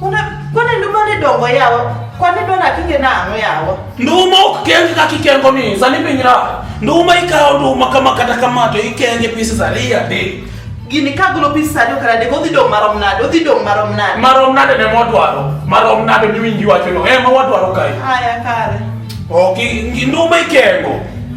Kwane nduma ni dongo yawa? Kwane dona kinge na ango yawa? Nduma ukikengi kaki kengo ni, zani pinyira. Nduma ikawo nduma kama kata kama to ikenge pisi zari ade. Gini kagulo pisi zari okara de gothi dong marom nade, othi dong marom nade. Marom nade ne modwaro, marom nade ni winji wacho no, ema wadwaro kai. Aya kare. Oki, nduma ikengo.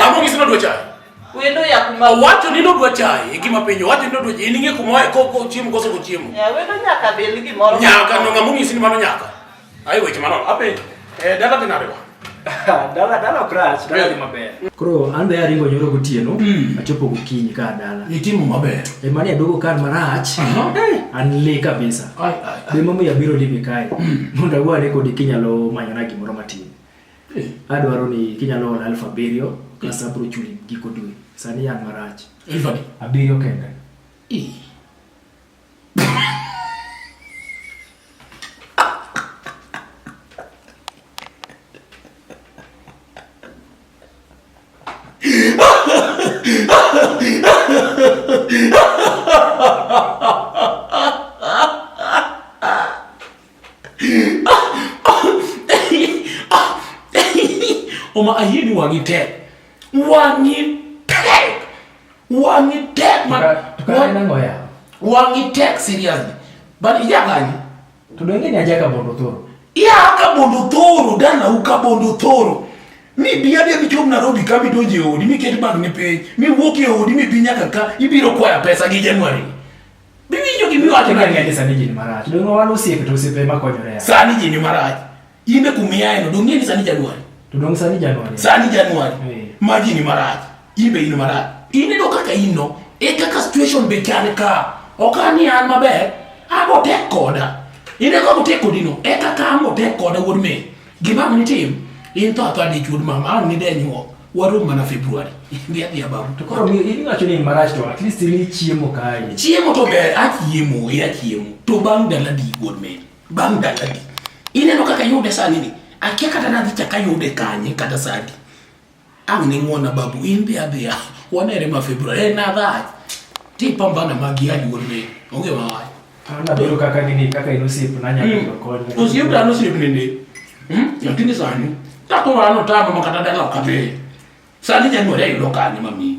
Ang'o gisema dwa chaye? Wendo ya kuma. Owacho ni nodwa chaye e gima penjo. Owacho ni nodwa chaye. Ninge kuma ko ko chiemo koso ko chiemo. Ya wendo nyaka bel gimoro. Nyaka no ngamo ngisi ni mano nyaka. Ayo weche mano. Apenjo. Eh dala tinariwa. dala dala crash dala ni maber. Koro ande ya ringo nyoro gotieno. Hmm. Achopo gokinyi ka dala. Ni timu maber. E mani adogo kan marach. Eh, an le kabisa. Ai ai. Be mama ya biro libi kai. Hmm. Mondo agwa ne kodi kinyalo manyona gimoro matin. Eh, adwaro ni kinyalo ora elfu abiriyo kasa abro chuli giko dwe sani yan marach Elfu adi? abiriyo kende Ih. Oma ayie ni wang'i tek. Wang'i tek. Wang'i tek man. Wang'i tek seriously. But iya gani? Tudenge ni aja ka bondo thoro. Iya ka bondo thoro dana u ka bondo thoro. Mi bi ade bi chom Nairobi ka bi donje odi mi ket bang ne piny. Mi wuok e odi mi bi nyaka ka ibiro kwaya pesa gi January. Bibi ndio kimi watu na ngende sani jini maraji. Ndio wale usiku tu usipe makonyore ya. Sani jini maraji. Inde kumia eno dungi ni sani Januari. Tudong sani Januari. Sani Januari. Hey. Maji ni maraji. Ibe ino maraji. Inde do kaka ino. E kaka situation be kane ka. Okani an maber. Abo tek koda. Inde ko tek kodino. E kaka amo tek koda wuod me. Gima ang' nitim, in tho atho adichuo mama, ang' nidenyuo, warom mana Februari. Dhi adhiya babu. To koro iwacho ni marach to at least ni chiemo kae. Chiemo to ber, achiemo, e achiemo. To bang' dala di wuod men. Bang' dala di. Ineno kaka yude sani ni. Akia kata nadhi chaka yude kanye kata sadi. Ang' ning'wona babu, in dhi adhiya, wanere ma February. Eh, nadhach. Tipambana magi aluor ne, onge mawach. Anadhoro kaka gini, kaka in osiep, nanya hmm. yudo kony. Osiep an osiep nende. Hmm? Lakini sani, takoro an otamo ma kata dala ok adhi. Sani January ayudo kanye mami.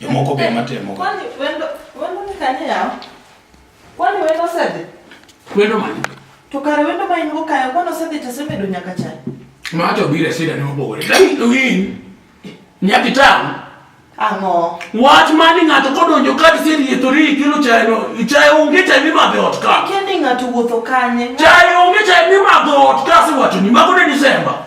Jomoko be matemo. Kwani wendo wendo ni kanye yawo? Kwani wendo osedhi? Wendo mane? To kare wendo ma in go kayo kwani osedhi to osebedo nyaka chai. Ma to bire sida ne obore. Win. Nyaki tamu. Ang'o? Wach mani ng'ato kodonjo ka tiserietho ri kilo chai no, chai onge chai mimadho e ot ka. Kendi ng'ato wuotho kanye? Chai onge chai mimadho e ot ka siwacho ni mago ne Disemba.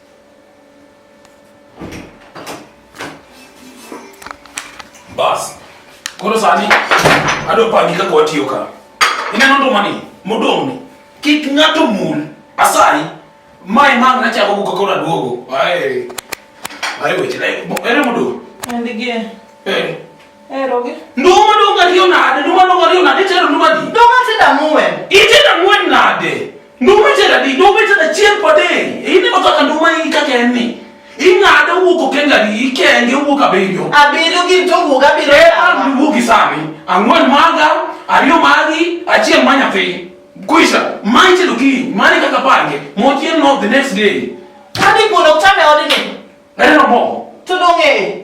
Bas. Koro sani adwa pangi kaka watiyo ka. Ineno nduma ni modong' ni kik ng'ato mul asayi mae mang' nachako go kaka naduogo. Ae. Ae weche na ere modong'. Endigie. Eh. Erogi. Nduma dong' ariyo nade? Nduma dong' ariyo nade? Chero nduma di. Nduma tida muwen. Itida muwen nade? Nduma tera di, nduma tera chiel pade. Ini mo kaka nduma i kaka en ni. Ing'ade wuok okenga di, ikenge wuok abiriyo. Abiriyo gin to wuok abiriyo. Eh, an wuok isani. Ang'wen maga, ariyo magi, achiel ma nyathi. Kuisha, mine tero ki, mane kaka pange, mochiel no the next day. Kadi kuno chame odini. Ere no mo. Tudong'e.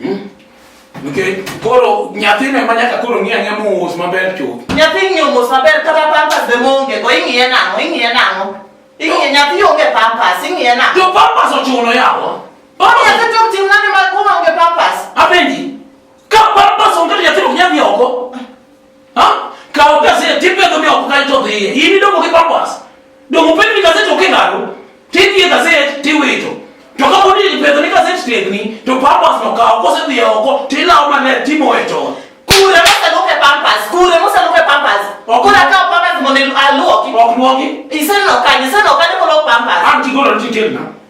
Hmm? Nikech koro nyathino ema nyaka koro ng'i ang'e mos maber chuth. Nyathi ng'iyo mos maber kata pampas be monge go ing'iye nang'o ing'iye nang'o. Ing'iye nyathi onge pampas ing'iye nang'o. To pampas ochuno yawa. Pampas nyathi to tim nani ma kuma onge pampas. Apenji. Ka pampas onge nyathi ok nyadhi oko. Kawo gazet tipedho mi oko kanyo to dhiye. In idongo gi purpose. Dongo piny ni gazet ok ing'ado. Tidhiye gazet tiwito. To ka podi ipedho ni gazet tiegni to purpose no kawo kose dhiye oko tilawo maler timoye chon. Kure moseluoke pampas. Kure moseluoke pampas. Ok. Kure akawo pampas mondo aluoki. Ok luoki. Iseneno kanye? Iseneno kanye koluok pampas? An tigolo ni titerna.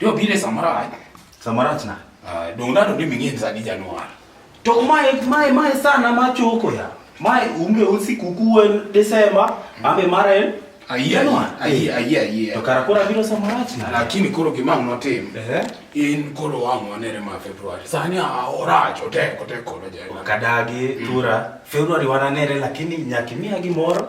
Yo bile samara. Samara tna. Ah, dong na to ni mingien sa di Januar. To mai mai mai sana ma choko ya. Mai umbe usi kukuwe Desemba, hmm. ambe mara en. Ayie, ayie, ayie, ayie. To kara kora biro samara tna. Lakini koro gima mno tim. Eh. In koro wangu wanere ma Februari. Sani a ora chote kote koro jana. Kadagi, hmm. tura. Februari wananere lakini nyakimia gimoro.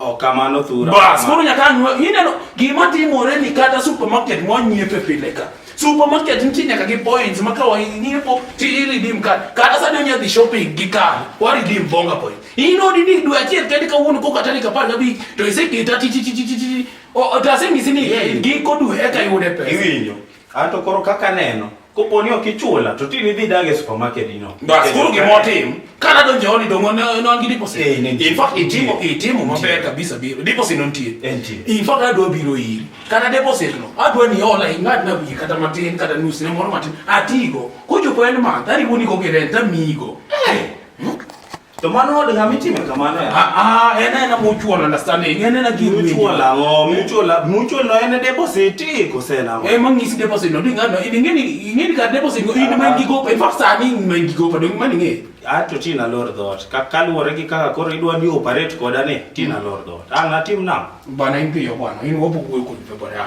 Okamano thura. Bas, koro nyaka anwa, ineno gima timore ni kata supermarket mwa nyiepe pile ka. Supermarket nitie nyaka gi points ma ka wanyiepo ti redeem card. Kata sani onya dhi shopping gi card, wa redeem bonga point. Ino di ni dwe achiel kende ka wuon ko kata ni kapar gabi to iseketa ti ti ti ti ti. O tasemi sini giko dwe eka yude pesa. Iwinyo. Anto koro kaka neno, kopo ni ok ichula to tini dhi dag e supermarket ino. Bas kuru gima otim. Kana donjo hodi dongo ne non gi deposit. Eh, ne nitie. In fact itimo itimo maber kabisa biro. Deposit non tie. Eh, nitie. In fact adwa biro iri. Kana deposit no. Adwa ni ola ingad na wiye kata matin kata nus ne moro matin. Atigo. Kochopo en ma tari woni ko gi rent amigo. Eh. To mano od ng'ama itime kamano ya. Ah ah, en en mutual understanding. En en gi mutual ango, mutual mutual no en deposit kose na. Eh man ngisi deposit no dinga no idinge ni ingeni ka deposit go in man gi go pa fa sani man gi go pa dong man ngi. A to tina lor dot. Ka kaluore gi kaka koro idwa ni operate koda ni tina lor dot. An atim na. Bana impiyo bwana, in wopo kuwe kuwe bwana.